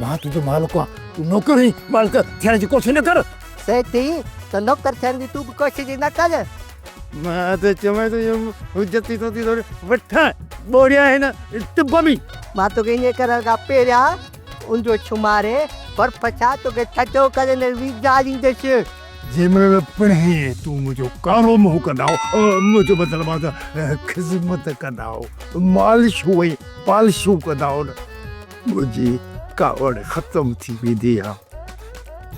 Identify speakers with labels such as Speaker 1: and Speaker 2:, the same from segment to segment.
Speaker 1: مان تنهنجو مالڪ آهيان، تون نوڪر هين، مالڪ ٿيڻ جي ڪوشش نه ڪر. سيد ٿي
Speaker 2: ته نوڪر ٿيڻ جي تون به ڪوشش ئي نه ڪر. مان
Speaker 1: ته چوين ٿو يم حجت ٿي توکي ٿوري وٺان، ٻوڙيا هن ٽب ۾. مان توکي ائين
Speaker 2: ڪرڻ کان پهريان ان جو شماري برف سان توکي ٺٽو ڪري نه ويجھاريندس. جنهن مهل
Speaker 1: پڻ تون منهنجو ڪارو منهن ڪندائو، منهنجو مطلب آهي ته خذمت ڪندائو، مالشون ۽ پالشون ڪندائو نه. منهنجي ڪاوڙ ختم ٿي ويندي آ.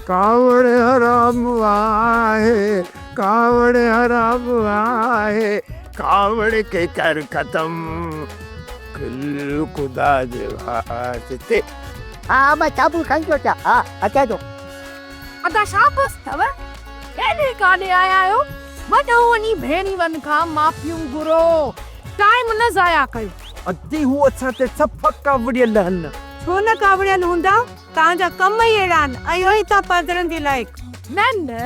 Speaker 1: ڪاوڙ حرام آهي ڪاوڙ حرام آهي ڪاوڙ کي ڪر ختم کل خدا جي واسطي. ها ها
Speaker 2: مان چابو کڻي ٿو اچان ها اچان ٿو. ادا
Speaker 3: شابس ٿو هيڏي ڪاڏي آيا آهيو وڏو وڃي ڀيڻيون کان معافيون گهرو ٽائيم نه ضايع ڪيو. اڳتي هو اسان
Speaker 1: تي سڀ ڪاوڙيل هن. ڇو نه ڪاوڙيل
Speaker 3: هوندا، توهان جا ڪم ئي اهڙا آهن، اهو ئي ٿا پادرن جي لائق. نه نه،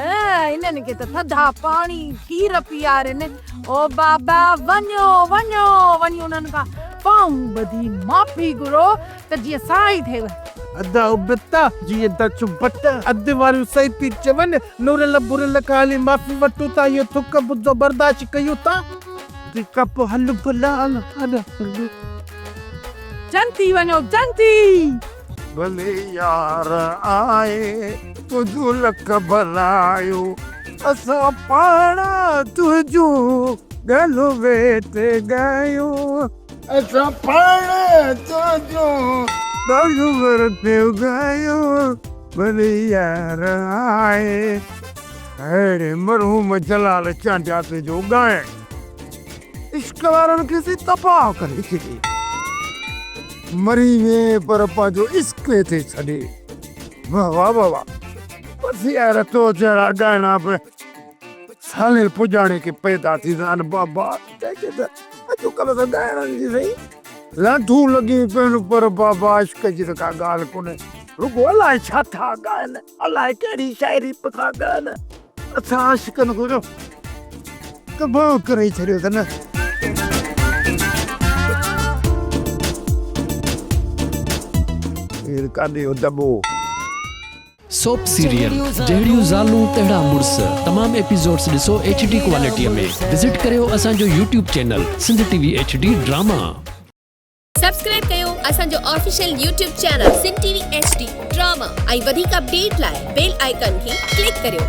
Speaker 3: هنن کي ته ٿڌا پاڻي، کير پيارين. او بابا، وڃو وڃو، وڃي انهن کان پاهون ٻڌي معافي گهرو ته جيئن سائي ٿيو. ادا ابتا
Speaker 1: جيئن ته چبٽ اڌ واريون سهي پي چون، نورل برل کان هلي معافي وٺون ٿا، اهو ٿڪ ٻڌو برداشت ڪيون ٿا. ڪپ هل ڀلا هل هل.
Speaker 3: جنتي وڃو جنتي. ڀلي
Speaker 1: يار آء تنهنجون لک ڀلايون. اسان پاڻ تنهنجون ڳالهيون ويٺي ڳايون. اسان پاڻ تنهنجون ڳالهيون ورتيون ڳايون. ڀلي يار آء. اهڙي مرحوم جلال چانڊياسي جو ڳائڻ عشق وارن کي سي تباهه ڪري ڇڏي. مري ويئي پر پنهنجو عشق هتي ڇڏي. واه واه واه واه بس يار تو جهڙا ڳائڻا به سالين پڄاڻي ڪي پيدا ٿي سان بابا ڪنهنکي ته اڄ ڪلهه ته ڳائڻن جي سهي لانڍون لڳيون پيون پر بابا عشق جي ته ڪا ڳالهه ڪونهي رڳو الائي ڇا ٿا ڳائن. الاء ڪهڙي شاعري پکان ڳائن. اسان عاشقن کي جو تباهه ڪري ڇڏيو اٿن.
Speaker 4: هير ڪاني اهو دٻو. سوپ سيريل جهڙيون زالون تهڙا مڙس تمام ايپيسوڊس ڏسو ايڇ ڊي ڪوالٽيء ۾ وزٽ ڪريو اسان جو YouTube channel Sindh T V H D drama.
Speaker 5: Subscribe ڪيو اسان جو official YouTube channel Sindh T V H D drama ۽ وڌيڪ اپڊيٽ لاء بيل آئيڪان کي ڪلڪ ڪريو.